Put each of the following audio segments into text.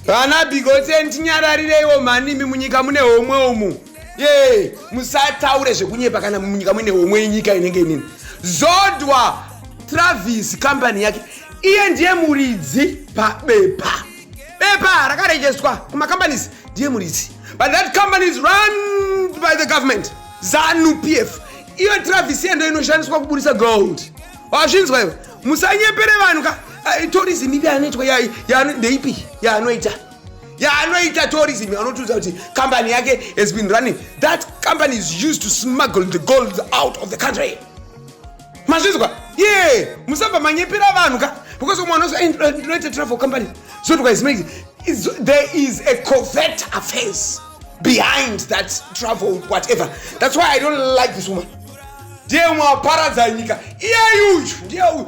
vana bigosen tinyarariraiwo mhani imi munyika mune homwe umu ye musataure zvekunyepa kana munyika muine homwe yenyika inenge inini zodwa travis kambani yake iye ndiye muridzi pabepa bepa rakarejestwa kumacompanies ndiye muridzi but that company is run by the government zanu p f iyo travis yendo inoshandiswa kuburitsa gold wazvinzwa iwe musanyepere vanhu ka eh, tourism ipi anoitwa ndeipi yaanoita yaanoita tourism anotiudza kuti company yake has been running that company is used to smuggle the gold out of the country mazvinzwa ye yeah. musabva manyepera vanhu ka because umwe anozi eh, ndinoita travel company so tikaismaiti there is a covert affairs behind that travel whatever that's why i don't like this woman ndiye umwe waparadza nyika iyeyu uyu ndiye uyu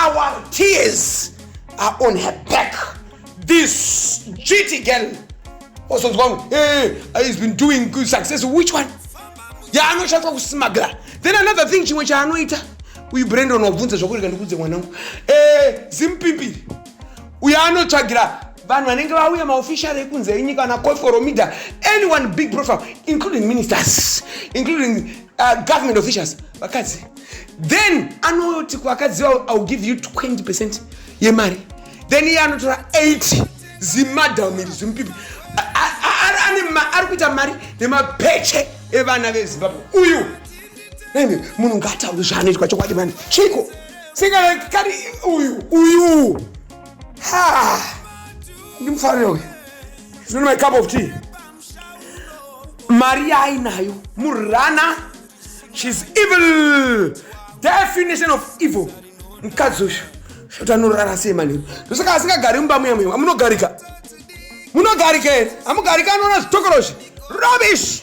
our tears are on her back this duty girl ozonzwa oh, hey, eh, eh, eh, he's been doing good success which one yaanoshandiswa kusmagla then another thing chimwe chaanoita uyu brendon wabvunza zvakurega ndikudze mwanangu eh, zimupimbiri uyo anotsvagira vanhu vanenge vauya maofficial ekunze enyika ana coforomida anyone big profile including ministers including uh, government officials vakadzi then anoti kuvakadzi vavo iwill give you 20 percent yemari then iye anotora 8 zimadam iri zimupipi ari kuita mari nemapeche evana vezimbabwe uyu munhu ngaataure zvaanoitwa chokwadi mani chiko singakari uyu uyu ha ndimufarira uyu zvinonema cup of tea mari yaainayo murana shes evil definition of evil mukadzi uyu zvoti anorara sei manheru ndosaka asingagari mumba muya muya amunogarika munogarika here amugarika anoona zvitokorozvi rubbish